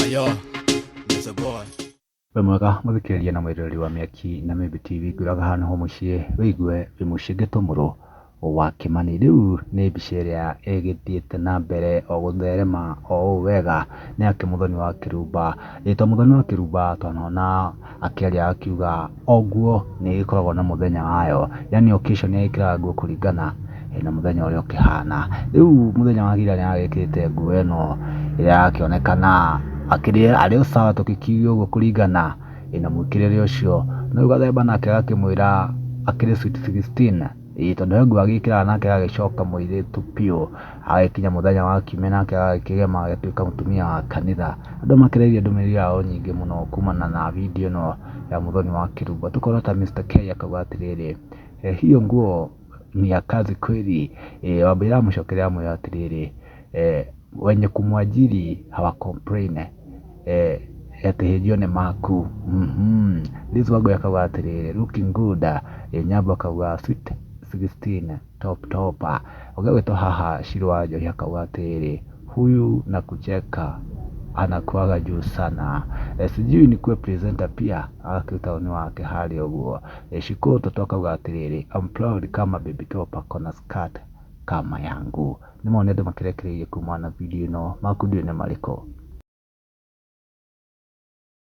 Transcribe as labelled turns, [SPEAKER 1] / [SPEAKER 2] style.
[SPEAKER 1] Ayo, there's a boy. we mwega
[SPEAKER 2] mũthikĩrĩria na mwĩroreri wa mĩaki na mĩmbi tv ngũraga hano ho mũciĩ wĩigue wĩ mũciĩ ngĩtũmũrwo wa kĩmani rĩu nĩ mbica ĩrĩa ĩgĩthiĩte na mbere o gũtherema o ũũ wega nĩ ya kĩmũthoni wa kĩrumba rĩtwa mũthoni wa kĩrumba twanona Akelia akiuga o nguo nĩ ĩgĩkoragwo na mũthenya wayo, yaani occasion nĩ egĩkĩraga nguo kũringana na mũthenya ũrĩa ũkĩhana. Rĩu mũthenya wa ira nĩ agĩkĩrĩte nguo ĩno ĩrĩa yakĩonekana akĩrĩ arĩ o sawa tũgĩkiuge ũguo kũringana na mũĩkĩrĩre ũcio. No rĩu gathemba nake agakĩmwĩra akĩrĩ sweet sixteen. Ĩĩ tondũ he nguo agĩkĩraga nake agagĩcoka mũirĩtu biũ, agagĩkinya mũthenya wa kiumia nake agagĩkĩgema agagĩtuĩka mũtumia wa kanitha. Andũ makĩrĩirie ndũmĩrĩri yao nyingĩ mũno kumana na video ĩno ya Muthoni wa Kĩrumbo. Tũkona ta Mister Kay akauga atĩrĩrĩ, hiyo nguo ni ya kazi kweli? Wambũi aramũcokeria amwĩra atĩrĩrĩ, eh, wenye kumwajiri hawa complain eh, ati hĩnjio nĩ maku Mhm. Liz Wangui akauga atĩrĩrĩ looking good eh, Nyambo akauga sweet 16 top top ũgagwĩtwo haha Shiro wa Njohi akauga atĩrĩrĩ huyu na kucheka anakuaga juu sana e, sijui ni kuwe presenter pia akiu taoni wake hali ũguo e, shikuru toto akauga atĩrĩrĩ I'm proud kama baby top akona skirt kama yangu Nĩ mawoni andũ makĩrekereirie kumana na video ĩno, maku ndiũĩ nĩ marĩkũ.